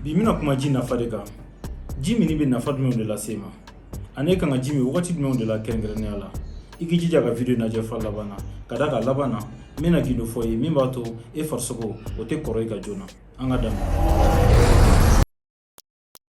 bi n bɛna kuma ji nafa de kan ji minni bɛ nafa jumɛnw de lase i ma ani e kan ka ji min wagati jumɛnw de la kɛrɛnkɛrɛnnenya la i k'i jija ka video lajɛ f'a laban na ka d'a kan a laban na n bɛna gundo f'i ye min b'a to e farisogo o tɛ kɔrɔ i kan joona an k'a daminɛ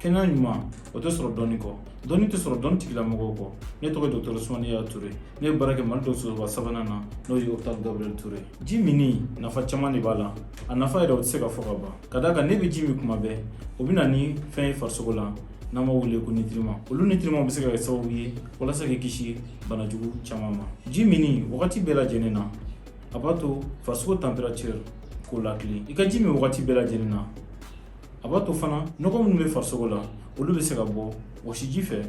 kɛnɛya ɲuman o tɛ sɔrɔ dɔnni kɔ dɔnni tɛ sɔrɔ dɔnni tigilamɔgɔw kɔ ne tɔgɔ ye dɔgɔtɔrɔ usumani yaya ture ne bɛ baara kɛ mali dɔgɔtɔrɔsoba sabanan na n'o ye opital gabriel ture ji minni nafa caman de b'a la a nafa yɛrɛ o tɛ se ka fɔ ka ban ka d'a kan n'e bɛ ji min tuma bɛɛ o bɛ na ni fɛn ye farisogo la n'an b'a wele ko nutriments olu nutriments bɛ se ka kɛ sababu ye walasa k'i kisi bana jugu caman ma ji minni wagati bɛɛ lajɛlen na a b'a to farisogo température k'o lakili i ka ji min wagati bɛɛ lajɛlen na a b'a to fana nɔgɔ minnu bɛ farisogo la olu bɛ se ka bɔ wɔsiji fɛ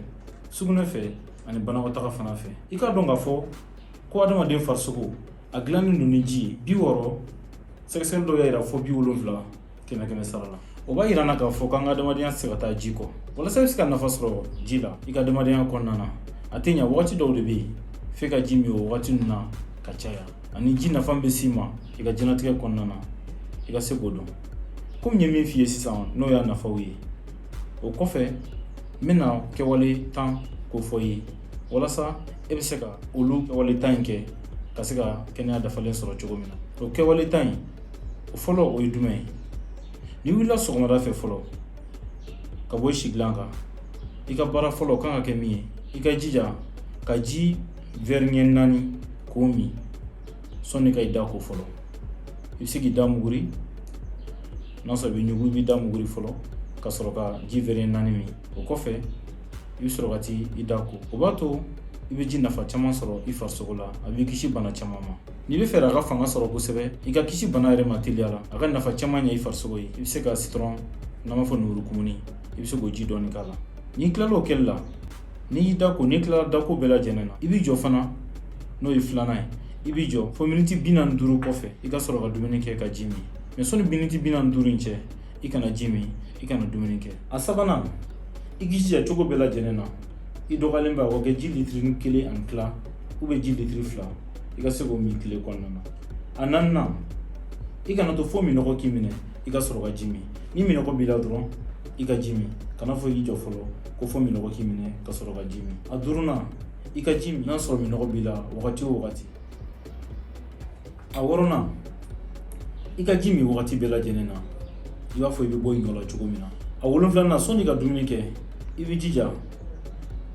sugunɛ fɛ ani banakɔtaga fana fɛ i k'a dɔn k'a fɔ ko adamaden farisogo a dilannen don ni ji ye bi wɔɔrɔ sɛgɛsɛgɛli dɔw y'a yira fo bi wolonfila kɛmɛ kɛmɛ sara la o b'a yira an na k'a fɔ k'an ka adamadenya tɛ se ka taa ji kɔ walasa i bɛ se ka nafa sɔrɔ ji la i ka adamadenya kɔnɔna na a tɛ ɲa wagati dɔw de bɛ yen f'e ka ji min o wagati ninnu na ka caya ani ji nafa bɛ s'i ma i ka diɲɛnatigɛ kɔnɔna na i ka se k'o dɔn komi n ye min f'i ye sisan n'o y'a nafaw ye o kɔfɛ n bɛna kɛwale tan k'o fɔ i ye walasa e bɛ se ka olu kɛwale tan in kɛ ka se ka kɛnɛya dafalen sɔrɔ cogo min na o kɛwale tan in o fɔlɔ o ye jumɛn ye n'i wulila sɔgɔmada fɛ fɔlɔ ka bɔ i sigilan kan i ka baara fɔlɔ kan ka kɛ min ye i k'i jija ka ji verre ɲɛ naani k'o min sɔnni ka i da ko fɔlɔ i bɛ se k'i da muguri n'a sɔrɔ i bɛ ɲugun i b'i da muguri fɔlɔ ka sɔrɔ ka ji verre ɲɛ naani min o kɔfɛ i bɛ sɔrɔ ka taa i da ko o b'a to i bɛ ji nafa caman sɔrɔ i farisogo la a b'i kisi bana caman ma n'i b'a fɛ a ka fanga sɔrɔ kosɛbɛ i ka kisi bana yɛrɛ ma teliya la a ka nafa caman ɲɛ i farisogo ye i bɛ se ka citron n'an b'a fɔ lemurukumuni i bɛ se k'o ji dɔɔni k'a la n'i tilala o kɛli la n'i y'i da ko n'i tilala dako bɛɛ lajɛlen na i b'i jɔ fana n'o ye filanan ye i b'i jɔ fo miniti bi naani duuru kɔfɛ i ka sɔrɔ ka dumuni kɛ ka ji min mais sɔnni miniti bi naani duuru in cɛ i kana ji min i kana dumuni kɛ a sabanan i k'i jija cogo bɛɛ lajɛlen na i dɔgɔyalenba k'o kɛ ji litiri kelen ani tila ou bien ji litiri fila i ka se k'o min tile kɔnɔna na a naaninan i kana to fo minɔgɔ k'i minɛ i ka sɔrɔ ka ji min ni minɔgɔ b'i la dɔrɔn i ka ji min kan'a fɔ i jɔ fɔlɔ ko fo minɔgɔ k'i minɛ ka sɔrɔ ka ji min a duurunan i ka ji min n'a sɔrɔ minɔgɔ b'i la wagati o wagati a wɔɔrɔnan i ka ji min wagati bɛɛ lajɛlen na i b'a fɔ i bɛ bɔ i nɔ la cogo min na a wolonfilanan sɔnni ka dumuni kɛ i b'i jija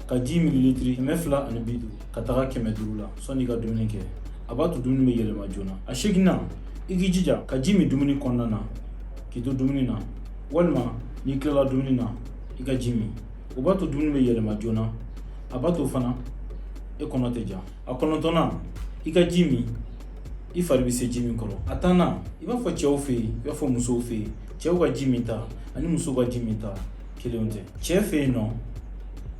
ka ji mililitiri kɛmɛ fila ani bi duuru ka taga kɛmɛ duuru la sɔnni i ka dumuni kɛ a b'a to dumuni bɛ yɛlɛma joona a seginnan i k'i jija ka ji min dumuni kɔnɔna na k'i to dumuni na walima n'i tilala dumuni na i ka ji min o b'a to dumuni bɛ yɛlɛma joona a b'a to fana e kɔnɔ tɛ ja a kɔnɔntɔnnan i ka ji min i fari bɛ se ji min kɔrɔ a tannan i b'a fɔ cɛw fɛ yen i b'a fɔ musow fɛ yen cɛw ka ji min ta ani musow ka ji min ta kelenw tɛ cɛ fɛ yen nɔ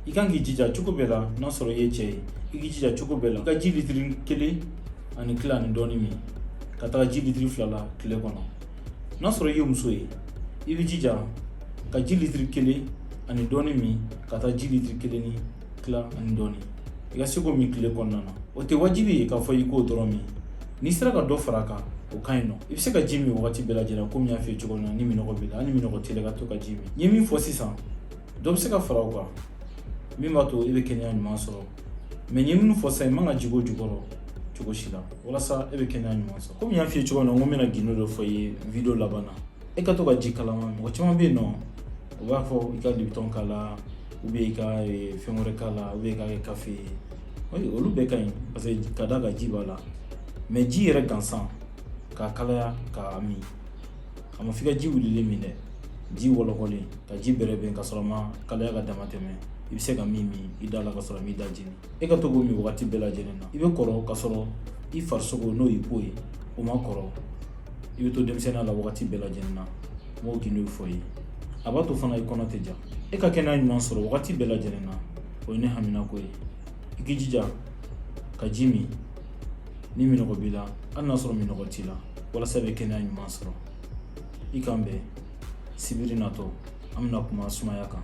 i kan k'i jija cogo bɛɛ la n'a sɔrɔ i ye cɛ ye i k'i jija cogo bɛɛ la ka ji litiri kelen ani tila ani dɔɔni min ka taga ji litiri fila la tile kɔnɔ n'a sɔrɔ i ye muso ye i k'i jija ka ji litiri kelen ani dɔɔni min ka taa ji litiri kelen ni tila ani dɔɔni i ka se k'o min tile kɔnɔna na o tɛ wajibi ye k'a fɔ i k'o dɔrɔn min n'i sera ka dɔ fara a kan o ka ɲi nɔ i bɛ se ka ji min wagati bɛɛ lajɛlen komi n y'a f'i ye cogo min na ni minɔgɔ b'i la hali ni minɔgɔ t'i la i ka to ka ji min n ye min fɔ sisan dɔ bɛ se ka fara o kan min b'a to i bɛ kɛnɛya ɲuman sɔrɔ mais n ye minnu fɔ sisan i man ka jigin o jukɔrɔ cogo si la walasa e bɛ kɛnɛya ɲuman sɔrɔ komi n y'a f'i ye cogo min na n ko n bɛna gindo dɔ fɔ i ye video laban na e ka to ka ji kalaman min mɔgɔ caman bɛ yen nɔ u b'a fɔ i ka libitɔn k'a la ou bien i ka fɛn wɛrɛ k'a la ou bien i k'a kɛ kafe ye olu bɛɛ ka ɲi parce que ka d'a kan ji b'a la mais ji yɛrɛ gansan k'a kalaya k'a min a ma f'i ka ji wulilen min dɛ ji wɔlɔkɔlen ka ji bɛrɛbɛn ka sɔrɔ a ma kalaya ka dama tɛmɛ i bɛ se ka min min i da la ka sɔrɔ a m'i da jeni e ka to k'o min wagati bɛɛ lajɛlen na i bɛ kɔrɔ ka sɔrɔ i farisogo n'o y'i peau ye o ma kɔrɔ i bɛ to denmisɛnninya la wagati bɛɛ lajɛlen na n b'o gindo fɔ i ye a b'a to fana i kɔnɔ tɛ ja e ka kɛnɛya ɲuman sɔrɔ wagati bɛɛ lajɛlen na o ye ne haminako ye i k'i jija ka ji min ni minɔgɔ b'i la hali n'a sɔrɔ minɔgɔ t'i la walasa i bɛ kɛnɛya ɲuman sɔrɔ i k'an bɛn sibiri natɔ an bɛna kuma sumaya kan